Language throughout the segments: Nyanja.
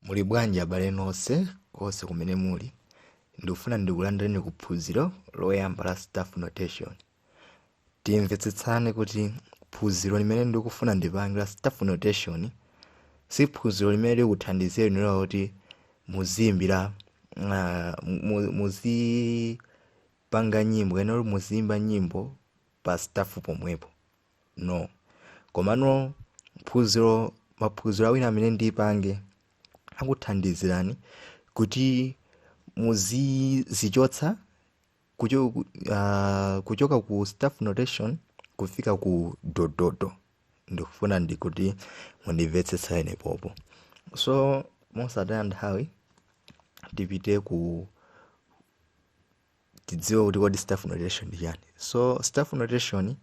muli bwanji abale nonse konse kumene muli ndikufuna ndikulandireni ku phunziro loyamba la staff notation timvetsetsane kuti phunziro limene ndikufuna ndipange la staff notation si phunziro limene likuthandizeni inuyo kuti muziyimba ah, mu- muzipanga nyimbo kapena kuti muziyimba nyimbo pa staff pomwepo no komano phunziro maphunziro awiri amene ndipange akuthandizani kuti muzizichotsa kucho, uh, kuchoka ku staff notation kufika ku dododo ndikufuna kuti mundimvetsetse pamenepo so mosataya nthawi tipite ku tidziwe kuti kodi staff notation ndi chani so staff notation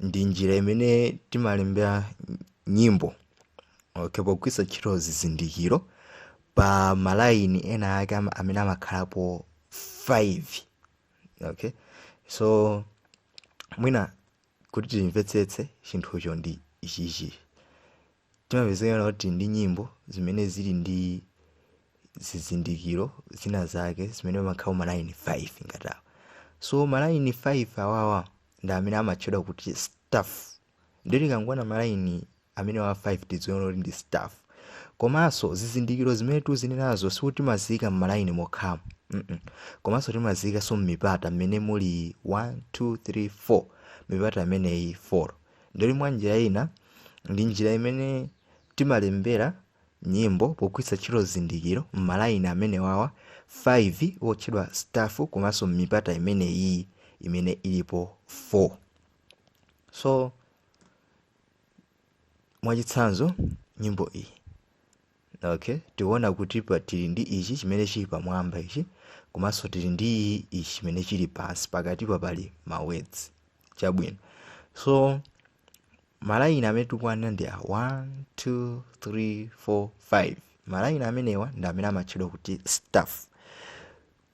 ndi njira imene timalembera nyimbo okay pogwiritsa ntchito zizindikiro pa malaini ena ake ama- amene amakhalapo 5 okay so mwina kuti timvetsetse chinthucho ndi ichichi Timapezeka kuti ndi nyimbo zimene zili ndi zizindikiro zina zake zimene pamakhala ma line 5 ngati awa. So ma line 5 awawa ndi amene amatchedwa kuti staff. Ndiye tikangoona ma line amenewa 5 tidziona kuti ndi staff. Komanso zizindikiro zimene tikuzinenazo sikuti timaziika m'malayini mokhamo. Mm-mm. Komanso timaziikanso m'mipata mmene muli 1, 2, 3, 4. Mipata imeneyi 4. ndiye mwa njira ina ndi njira imene timalembera nyimbo pogwiritsa ntchito zizindikiro m'malayini amenewawa 5 wotchedwa staff komanso m'mipata imeneyi imene ilipo 4 so mwachitsanzo nyimbo iyi Ok, tikuona kuti apa tili ndi ichi chimene chili pamwamba ichi komanso tili ndi ichi chimene chili pansi pakatipa pali ma words chabwino so malayini amene tikuwanena ndi a 1 2 3 4 5 malayini amenewa ndi amene amatchedwa kuti staff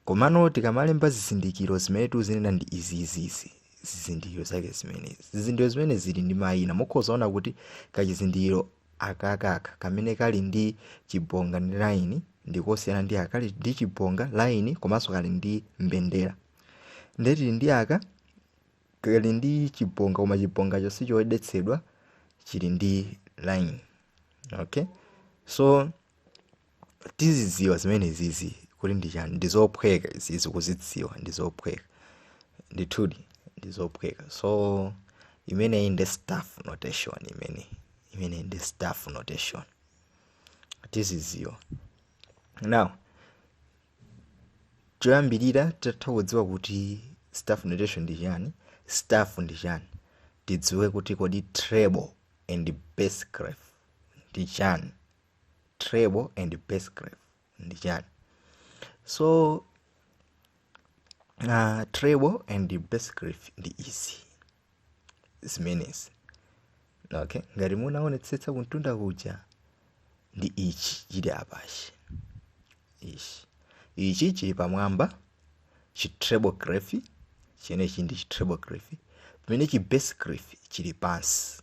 Komano tikamalemba zizindikiro zimene tuzinena ndi izi izi izi zizindikiro zake zimenezi zizindikiro zimene zili ndi mayina mukhoza ona kuti kachizindikiro akakaka kamene kali ndi chibonga ndi layini ndikosiyana ndi aka kali ndi chibonga layini komanso kali ndi mbendera ndiye tili ndi aka kali ndi chibonga koma chibongacho sichodetsedwa chili ndi layini okay so tizidziwa zimenezizi kuti ndi chani ndi zophweka izizi kuzidziwa ndi zophweka ndithudi ndi zophweka so imeneyi ndi staff notation imene imeneyi ndi staff notation tizidziwa now choyambirira titatha kudziwa kuti staff notation ndi chani staff ndi chani tidziwe kuti kodi treble and bass clef ndi chani treble and bass clef ndi chani so uh, treble and bass clef ndi izi zimenezi okay ngati munaonetsetsa kumtunda kuja ndi ichi chili apachi ichi ichi chili pamwamba chi treble clef chimenechi ndi chi treble clef pamene chi bass clef chili pansi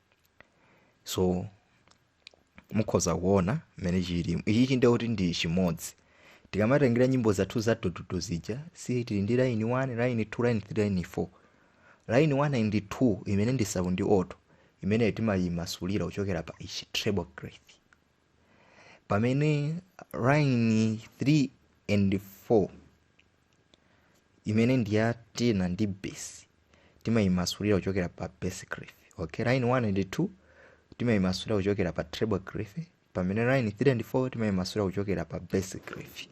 so mukhoza kuona mmene chilili ichichi ndiye kuti ndi chimodzi tikamatengera nyimbo zathu za dododo zija si tili ndi line 1 line 2 line 3 line 4 line 1 and 2 imene ndi sop ndi alto imene timayimasulira kuchokera pa ichi treble clef pamene line 3 and 4 imene ndi ya tenor ndi bass timayimasulira kuchokera pa bass clef okay line 1 and 2 timayimasulira kuchokera pa treble clef pamene line 3 and 4 timayimasulira kuchokera pa bass clef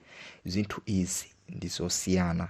zinthu izi ndi zosiyana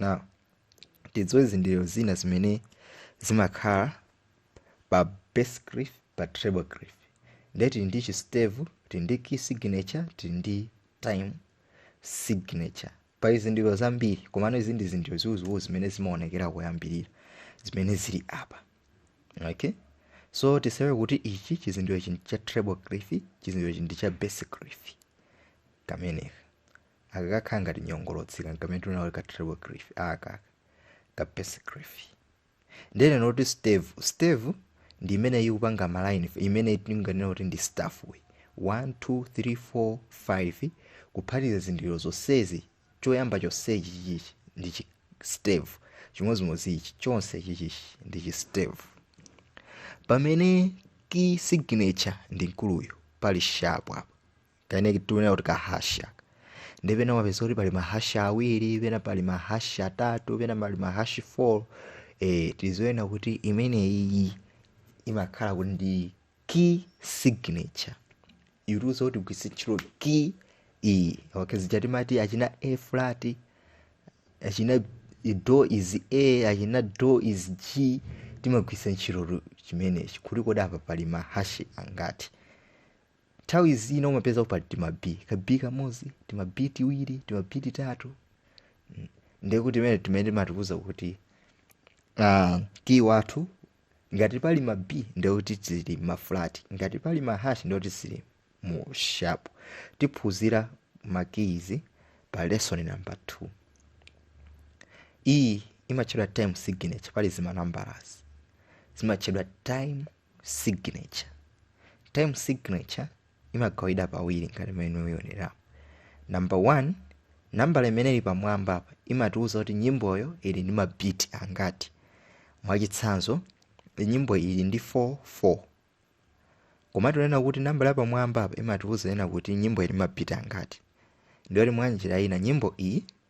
Now, tidziwe zizindikiro zina zimene zimakhala pa bass clef pa treble clef ndiye tili ndi chi stave tili ndi key signature tili ndi time signature pali zizindikiro zambiri komano izi ndi zizindikiro ziwuziwuzi zimene zimaonekera kuyambirira zimene zili apa okay so tidziwe kuti ichi chizindikiro ichi ndi cha treble clef chizindikiro ichi ndi cha bass clef kameneka aka kakhala ngati nyongolotsi ka kamene tunali ka treble clef aka ka bass clef nde tinene kuti stave stave ndi imene ikupanga maline imene timanena kuti ndi staff way 1 2 3 4 5 kuphatikiza zizindikiro zonsezi choyamba chonsechi chichi ndi chi stave chimodzimodzi ichi chonse chichichi ndi chi stave pamene key signature ndi mkuluyu pali sharp apa kamene tikunena kuti kahash nde pena mumapeza kuti pali mahashi awiri pena pali mahashi atatu pena pali mahashi 4 eh, tiziona kuti imeneyi imakhala kuti ndi key signature ikutiuza kuti tigwiritse ntchito key iyi okay zija timati achina a flat achina do is a achina do is g timagwiritsa ntchito chimenechi kuti kodi apa pali mahashi angati Nthawi zina umapeza kuti pali tima B, ka B kamodzi, tima B tiwiri, tima B titatu. Mm. Ndiye kuti timene timene timatiuza kuti ah, kiyi wathu ngati pali ma B ndiye kuti zili ma flat, ngati pali ma hash ndiye kuti zili mu sharp. Tiphunzira ma keys pa lesson number 2. Iyi imatchedwa time signature, pali zimanambalazi, zimatchedwa time signature time signature imagawidwa pawiri ngati mmene mukuonera number one nambala imene ili pamwamba apa imatiwuza kuti nyimboyo ili ndi mabiti angati mwachitsanzo nyimbo ili ndi 4 4 koma tinena kuti nambala yapamwamba apa imatiwuza kunena kuti nyimbo ili mabiti angati ndiye kuti mwa njira ina nyimbo iyi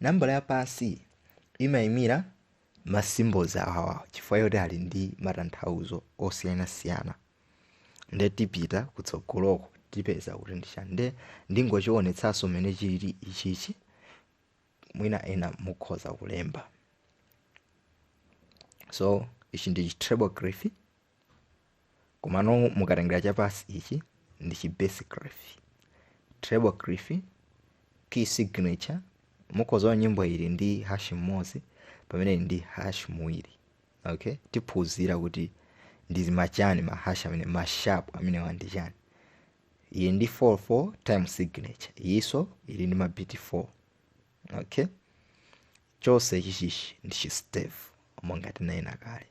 nambala ya pansi imayimira ma symbols awawa chifukwa choti ali ndi matanthauzo osiyanasiyana nde tipita kutsogoloko tipeza kuti ndi chani nde ndingochiwonetsanso mmene chilili ichichi mwina ena mukhoza kulemba so ichi ndi chi treble clef komano mukatengera chapansi ichi ndi chi bass clef treble clef key signature mukhoza kuona nyimbo ili ndi hash mmodzi pamene ili ndi hash awiri okay tiphunzira kuti ndi machani ma hash amene ma sharp amenewa ndi chani iyi ndi 4 4 time signature iyinso ili ndi mabiti 4 okay chonse chichichi ndi chi stave monga tinanena kale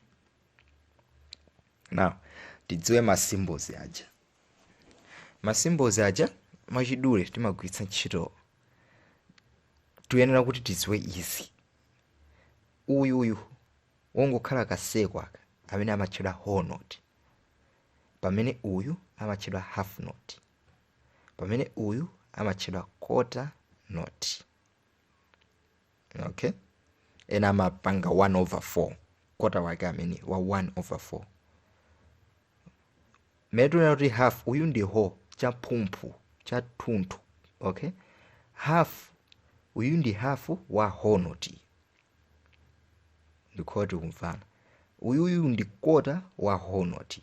now tidziwe ma symbols aja ma symbols aja mwachidule timagwiritsa ntchito tiyenera kuti tidziwe izi uyu uyu wongokhala ka circle aka amene amatchedwa whole note pamene uyu amatchedwa half note pamene uyu amatchedwa quarter note okay ena amapanga 1 over 4 kota wake ameneyu wa 1 over 4 mmene tikuona kuti half uyu ndi whole chamtumphu chathunthu okay half uyu ndi half wa whole note ndikuti tikumvana uyuyu ndi kota wa whole note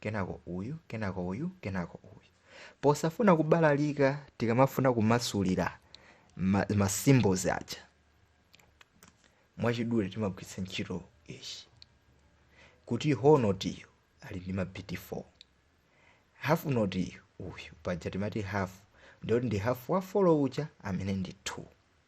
kenako uyu kenako uyu kenako uyu posafuna kubalalika tikamafuna kumasulira ma, ma symbols aja mwachidule timagwiritsa ntchito ichi kuti whole note iyo ali ndi ma beat 4 half note iyo uyu paja timati half ndiye kuti ndi half wa 4 uja amene ndi 2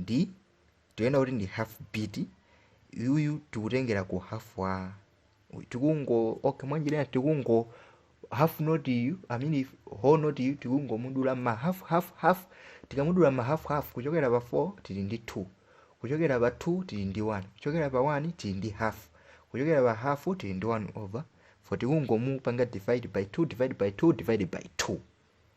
ndi tikunena kuti ndi half beat yuyu tikutengera ku half wa uyu. tikungo okay mwanjira ina tikungo half note yu i mean if whole note yu tikungomudula ma half half half tikamudula ma half half kuchokera pa 4 tili ndi 2 kuchokera pa 2 tili ndi 1 kuchokera pa 1 tili ndi half kuchokera pa half tili ndi 1 over 4 tikungomupanga divide by 2 divide by 2 divide by 2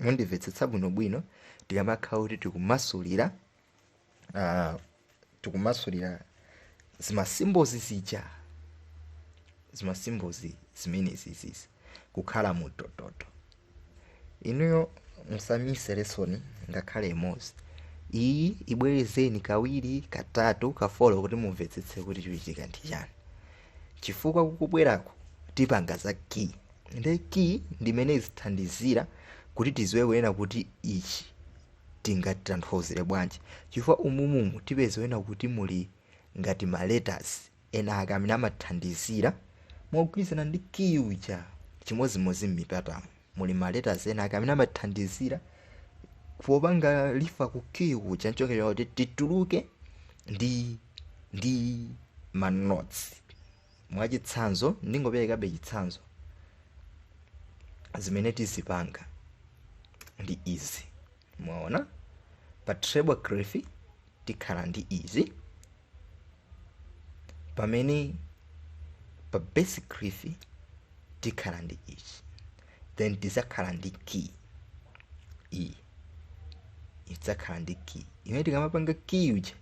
mundimvetsetsa bwinobwino tikamakhala kuti tikumasulira ah, tikumasulira zima symbols zija zima symbols zimenezi izizi kukhala mu dododo inuyo musamise lesson ngakhale imodzi iyi ibwerezeni kawiri katatu kafolo kuti mumvetsetse kuti chikuchitika ndi chani chifukwa kukubwerako tipanga za key nde key ndi imene izithandizira kuti tiziwe kunena kuti ichi tingatanthauzire bwanji chifukwa umumumu tipeza kunena kuti muli ngati ma letters ena ake amene amathandizira mogwirizana ndi key uja chimodzimodzi m'mipatamo muli ma letters ena ake amene amathandizira popanga refer ku key uja ncholinga kuti tituluke ndi ndi ma notes mwachitsanzo ndingoperekabe chitsanzo zimene tizipanga ndi izi mwaona pa treble clef tikhala ndi izi pamene pa bass clef tikhala ndi ichi then tizakhala ndi key iyi idzakhala ndi key imene tikamapanga key uja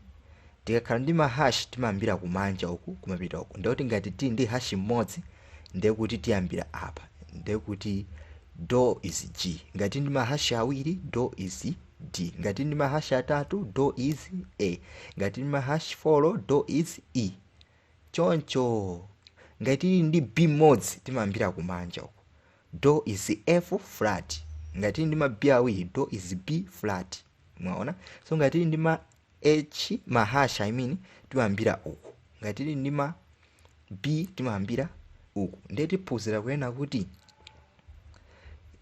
tikakhala ndi mahash timayambira kumanja uku kumapita uku ndekuti ngati tili ndi hash mmodzi ndekuti tiyambira apa ndekuti do is g ngati tili ndi mahash awiri do is d ngati ndi mahash atatu do is a ngati ndi mahash 4 do is e choncho ngati tili ndi b mmodzi timayambira kumanja uku Do is F flat. Ngati tili ndi ma B awiri, do is B flat. Mwaona? So ngati tili ndi ma H, ma hash, I mean, timayambira uku. Ngati tili ndi ma B, timayambira uku. Ndiye tiphunzira kunena kuti,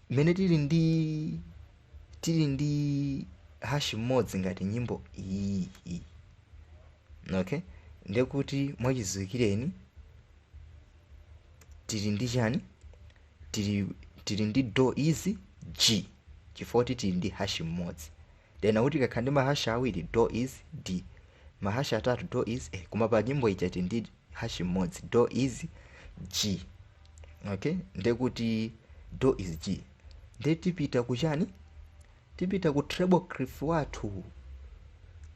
mmene tili ndi tili ndi hash mmodzi ngati nyimbo iyi iyi. Okay? Ndiye kuti mwachidziwikireni tili ndi chani tili, tili ndi do is g chifukwa choti tili ndi hash mmodzi tanena kuti tikakhala ndi mahash awiri do is d mahash atatu do is a koma pa nyimbo ija tili ndi hash mmodzi do is g okay ndekuti do is g nde tipita kuchani tipita ku treble clef wathu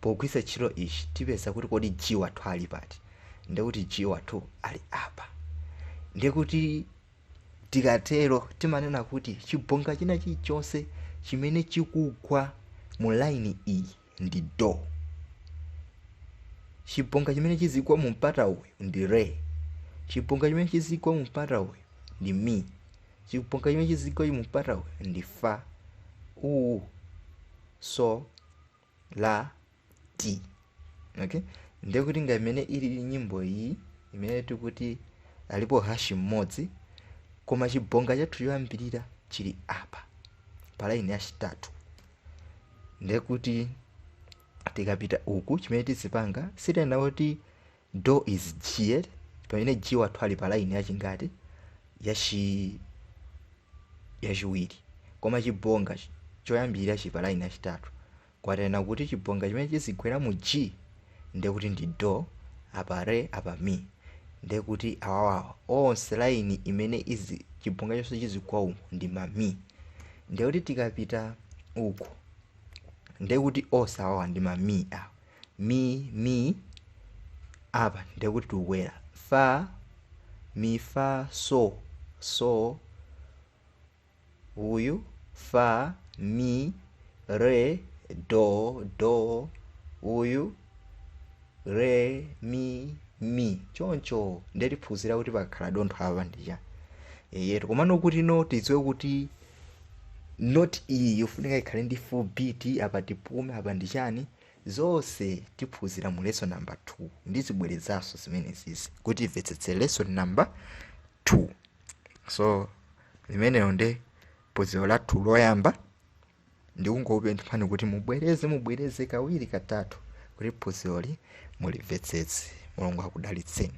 pogwiritsa ntchito ichi tipeza kuti kodi G wathu ali pati ndiye kuti G wathu ali apa ndiye kuti tikatero timanena kuti chibonga china chilichonse chimene chikugwa mu line iyi ndi do. Chibonga chimene chizigwa mu mpata uyu ndi re. Chibonga chimene chizigwa mu mpata uyu ndi mi. Chibonga chimene chizigwa mu mpata uyu ndi fa. Uwu so la ti. Okay? Ndiye kuti ngati imene ili nyimbo iyi imene tikuti alipo hash mmodzi koma chibonga chathu choyambirira chili apa pa laini yachitatu. ndiye kuti tikapita uku chimene tizipanga sitena kuti do is g pamene g wathu ali pa line yachingati yachi yachiwiri koma chibonga chi- choyambirira chili pa line yachitatu kwatena kuti chibonga chimene chizigwera mu g ndiye kuti ndi do apa re apa mi ndiye kuti awawawa onse laini imene izi chibonga chonse chizigwa umu ndi ma mi ndiye kuti tikapita uku ndiye kuti onse awawa ndi ma mi awa mi mi apa ndiye kuti tukukwera fa mi fa so so uyu, fa, mi, re, do, do, uyu, re, mi, mi choncho nde tiphunzira kuti pakakhala dontho apa ndi chani eyetu komano kuti note tidziwe kuti note iyi yofunika ikhale ndi full beat apa tipume apa ndi chani zonse tiphunzira mu lesson number 2 ndizibwerezanso zimenezizi kuti mumvetsetse lesson number 2 nso limenelo nde phunziro lathu loyamba ndikungokupemphani kuti mubwereze mubwereze kawiri katatu kuti phunziroli mulimvetsetse mulungu akudalitseni